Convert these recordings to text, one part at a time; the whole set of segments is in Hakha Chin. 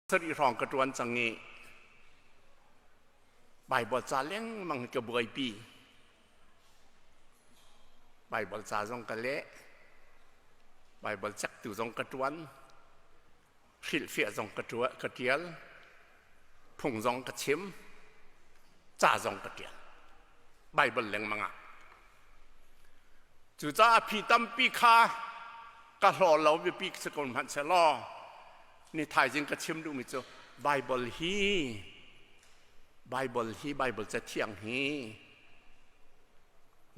sarih hrawng ka ṭuan cang i Baibal ca lengmang hi ka buaipi. Baibal ca zong ka leh. Baibal cektu zong ka ṭuan. Hrilhfiah zong ka ṭuan, ka ṭial. Phung zong ka chim. Ca zong ka ṭial. Baibal lengmang ah. Cucaah phi tampi kha ka hlaw lo biapi si ko hmanhsehlaw Ni thaizing ka chim duhmi cu Bible hi Bible hi Bible cathiang hi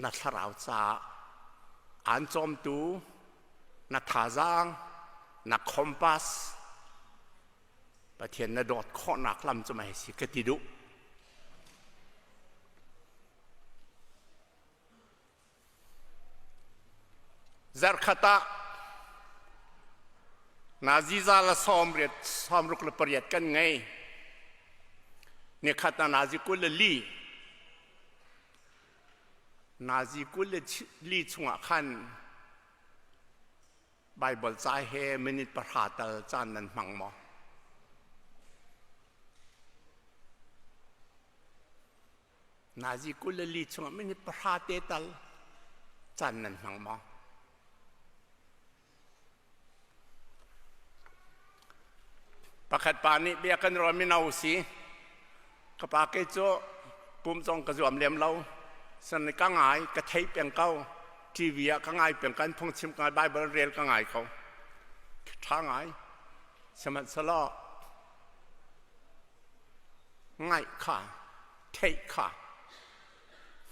na thlarau caah aan cawmtu na thazaang na compass Pathian na dawt khawhnak lam cu mai si ka ti duh Zarkhat ah Nazi za le sawmruk le pariat kan ngei. Nikhat na Nazi kul le li. Nazi kul le li chungah khan Bible ca he minute pahra tal caan nan hmang maw? Nazi kul le li chungah minute pahra te tal caan nan hmang maw? Pakhat pa nih bia kan ruah mino si. Ka pa ke cu kum zong ka zuam lem lo. San ka ngai, ka thei peng ko. TV ah ka ngai peng kan phungchim ka ngai, Bible rel ka ngai ko. Ṭha ngai. Sihmanhsehlaw ngaih kha, theih kha,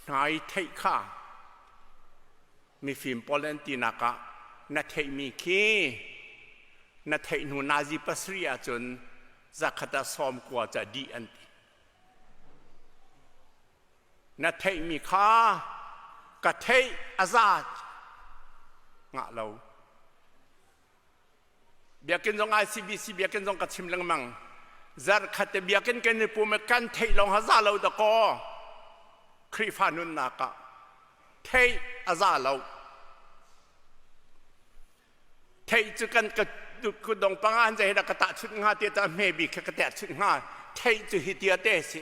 hnai theih kha, mifim pawl an tinak ah na theihmi khi na theih hnu nazi pasarih ahcun zakhat ah sawm kua ca dih an ti na theihmi kha ka theih a za ngah lo biakinn zong ai CBC biakinn zong ka chim lengmang zarkhat te biakinn kan i pum i kan theih lawng ha za lo dakaw Khrihfa nunnak ah theih a za lo theih cu kan ka ku dong panga han zai da ka ta chut nga te ta hme bi kha ka ta chut nga theih cu hi tia te si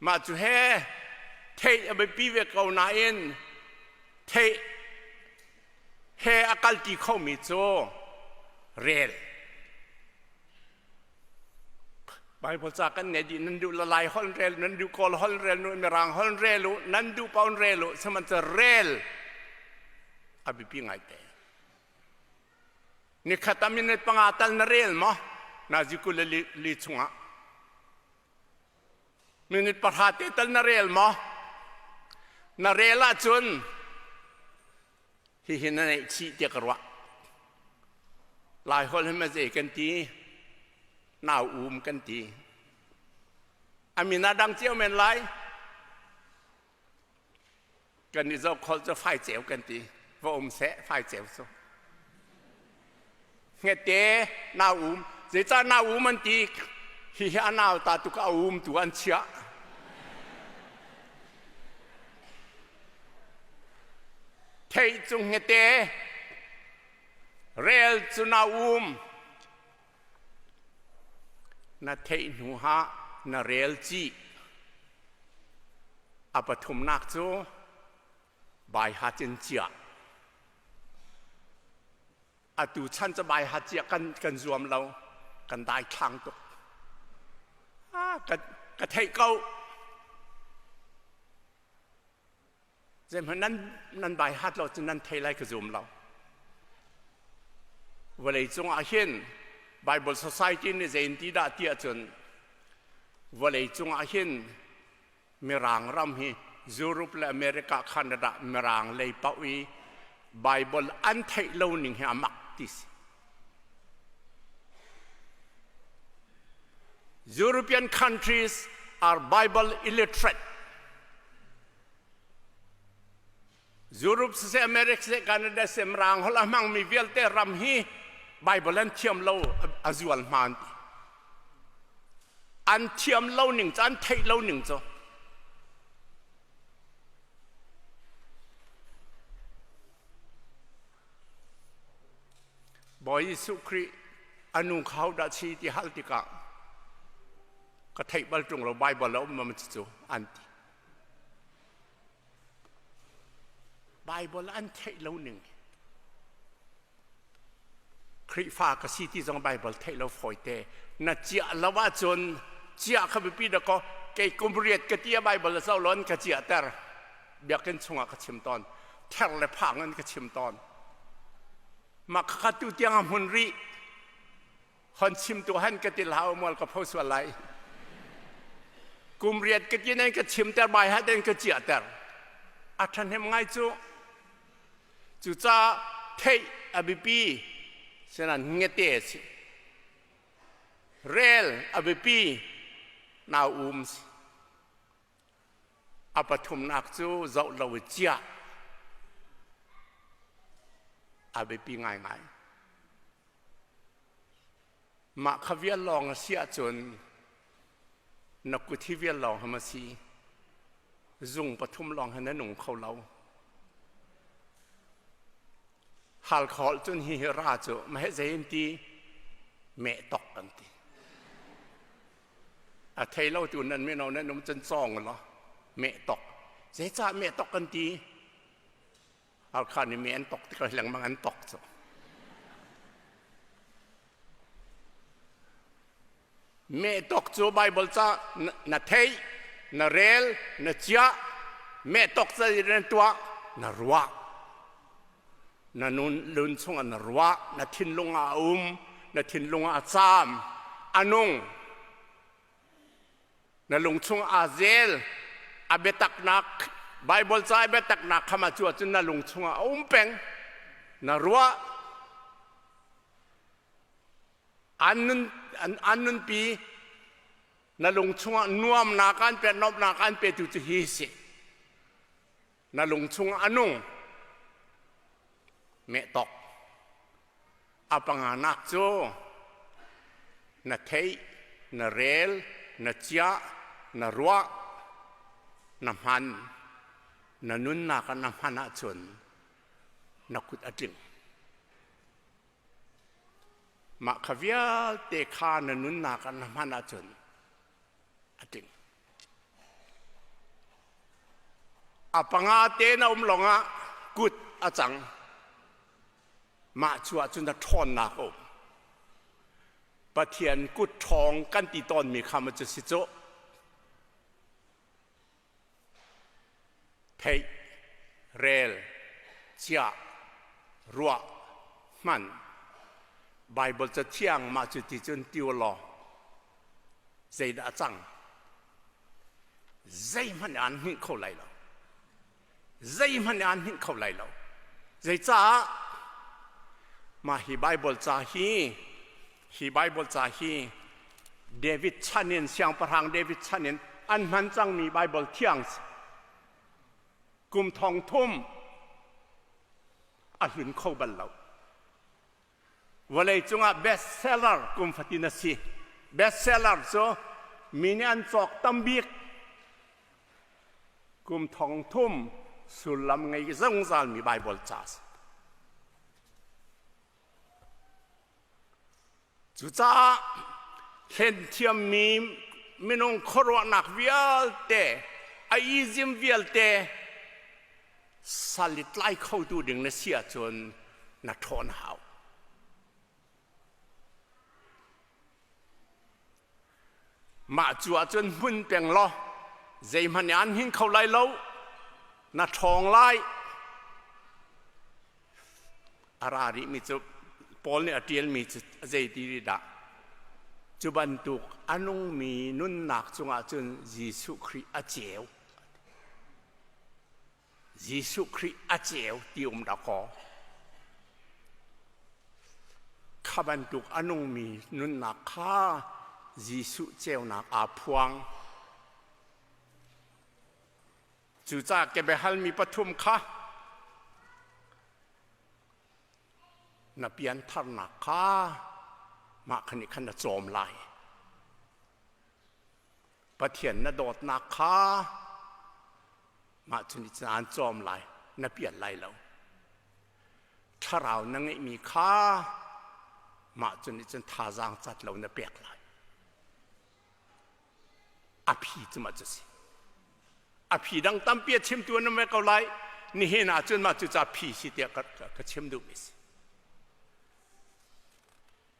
Mah cu he theih a biapi ve ko nain theih he a kalti khomi cu rel. Baibal ca kan nei dih nan duh lalai hol rel nan duh kawl hol rel nu mirang hol rel u nan duh paun rel u sihmanhsehlaw rel a biapi ngai te. Nikhat amin panga tal na rel maw? Na ziku le li, li chungah Minute pahra te tal na rel maw? Na rel ahcun hihi na neihchih tiah ka ruah. Lai holh hin zei kan ti? Nau um kan ti. A min a dang cio men lai. kan i zoh khol cu fai ceu kan ti va um seh fai ceu cu ngete nau um zeicah nau um an ti hihi a nau ta tuk a um tu an chiah thei cung ngete rel cu na um Na theih hnuah na rel chih. A pathumnak cu baiha cin ciah. Atu chan cu baiha ciah kan, kan zuam lo. Kan dai thlang tuk. Ah, ka, ka theih ko. zeihmanh nan, nan bai hat lo cun nan thei lai ka zum lo vawlei cungah hin bible society nih zeinti dah ti ahcun vawlei cungah hin mirang ram hi Europe le America Canada mirang lei pauh i Bible an theih lo ning hi a mak ti si European countries are Bible illiterate. Europe se America se Canada se mrang hola mangmi vialte ram hi Bible an thiam lo a zual hman ti. An thiam lo ning cu an theih lo ning cu Bawi Jesuh Khrih a nu kha hodah si ti hal tikah ka theih bal ṭung lo Baibal a um cu cu an ti. Baibal an theih lo ning Khrihfa ka si ti zong Baibal theih lo fawite na ciah lo ahcun ciah kha biapi da kaw kei kum riat ka ti a Baibal a zoh lon ka ciah ter biakinn chungah ka chim tawn ther le phang in ka chim tawn mah khakha tu tiang a hmun rih hon chim tu han ka til hau mual ka pho sual lai kum riat ka tin ka chim ter bai ha den ka chia ter a ṭhahnem ngai cu cucaah thei abipi senan ngete si rel abipi nau um si A pathumnak cu zoh lo i ciah a biapi ngaingai. Mah kha vial lawng a si ahcun na kut hi vial lawng ham a si. Zung pathum lawng hi na nung kho lo. Hal khawl cun hi hi ra cu maheh zei in ti meh tok kan ti. a thei lo tu nan mino nan um cun cawng law meh tok zeicah meh tok kan ti arkhan i meh an tok tikah lengmang an tok cu meh tok cu bible ca na thei na rel na chia meh tok ca na tuah na ruah na nun lun chungah na ruah na thinlung ah a um na thinlung ah a caam a nung na lung chungah aa zel a biataknak Bible ca i biataknak khama cu ahcun na lung chungah a um peng na ruah an nun an, an nunpi na lung chungah nuamnak an pe nomnak an pe tu cu hi si na lung chung a nung mehtok a panganak cu na theih na rel na ciah na ruah na hman na nunnak na hman ahcun na kut a tling mah kha vialte kha na nunnak na hman ahcun a tling A panga tein a um lawngah kut a cang. Mah cu ahcun a ṭhawnnak a um. Pathian kut ṭhawng kan ti tawnmi kha maw cu si cu? theih, rel, chiah, ruah, hman. Baibal cathiang mah cu ti cun tiu law zeidah a cang? Zeihmanh aan hngilh kho lai lo. Zeihmanh aan hngilh kho lai lo. Zeicaah? Mah hi Baibal ca hi Hi Baibal ca hi David chan in siangpahrang David chan in an hman cangmi Baibal thiang kum thong thum a hlun kho bal lo. Vawlei cungah bestseller kum fatin a si. Bestseller cu mi nih an cawk tam bik kum thong thum sullam ngei zungzalmi Baibal ca a si. Cucaah hlenthiammi minung khuaruahnak vialte, a izim vialte sal i tlai khotu ding na si ahcun na ṭhawn hau. Mah cu ahcun hmun peng law zeihmanh nih an hing kho lai lo. Na ṭhawng lai. A ra rihmi cu Paul nih a ṭialmi cu zeiti ri dah? Cu bantuk a nungmi nunnak cungah cun Jesuh Khrih a ceu. Jesuh Khrih a ceu ti um dakaw. Kha bantuk a nungmi nunnak kha Jesuh ceunak aa phuang. Cucaah kebiahalmi pathum kha na piantharnak kha mah khan nih khan na cawm lai. Pathian na dawtnak kha mah cun aan cawm lai, na pial lai lo. Thlarau na ngeihmi kha mah cun nih cun thazaang cat lo na pek lai. A phi cu mah cu si. A phi dang tampi a chimtu an um ve ko lai. Nihin ah cun mah cu ca phi si tiah ka, ka, ka chim duhmi si.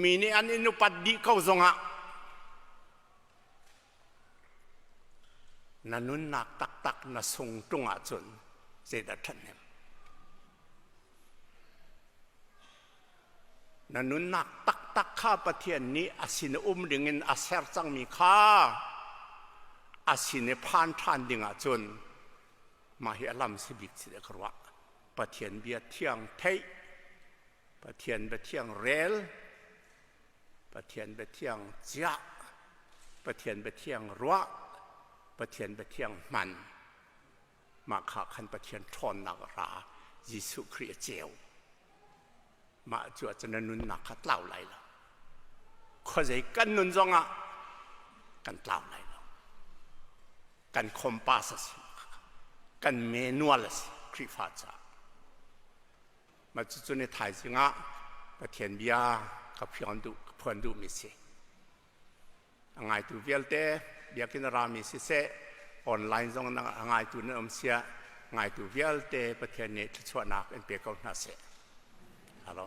Mi nih an in upat dih ko zongah na nunnak taktak na sung ṭung ahcun zeidah ṭhathnem? Na nunnak taktak kha Pathian nih a sin um dingin a ser cangmi kha a sin i phan ṭhan dingah cun mah hi a lam si bik si deh ka ruah. Pathian bia thiang theih Pathian biathiang rel, Pathian biathiang ciah, Pathian biathiang ruah, Pathian biathiang hman. Mah kha khan Pathian ṭhawnnak ra Jesuh Khrih a ceu. Mah cu ah cun na nunnak kha tlau lai lo. Khuazei kan nun zongah kan tlau lai lo. Kan compass a si, kan manual a si Khrihfa caah. Mah cucun i thaizing ah Pathian bia ka phuan duh, ka phuan duhmi si. A ngaitu vialte biakinn rami siseh, online zong a ngaitu nan um siah ngaitu vialte Pathian nih thluachuahnak in pe ko hna seh. Alo.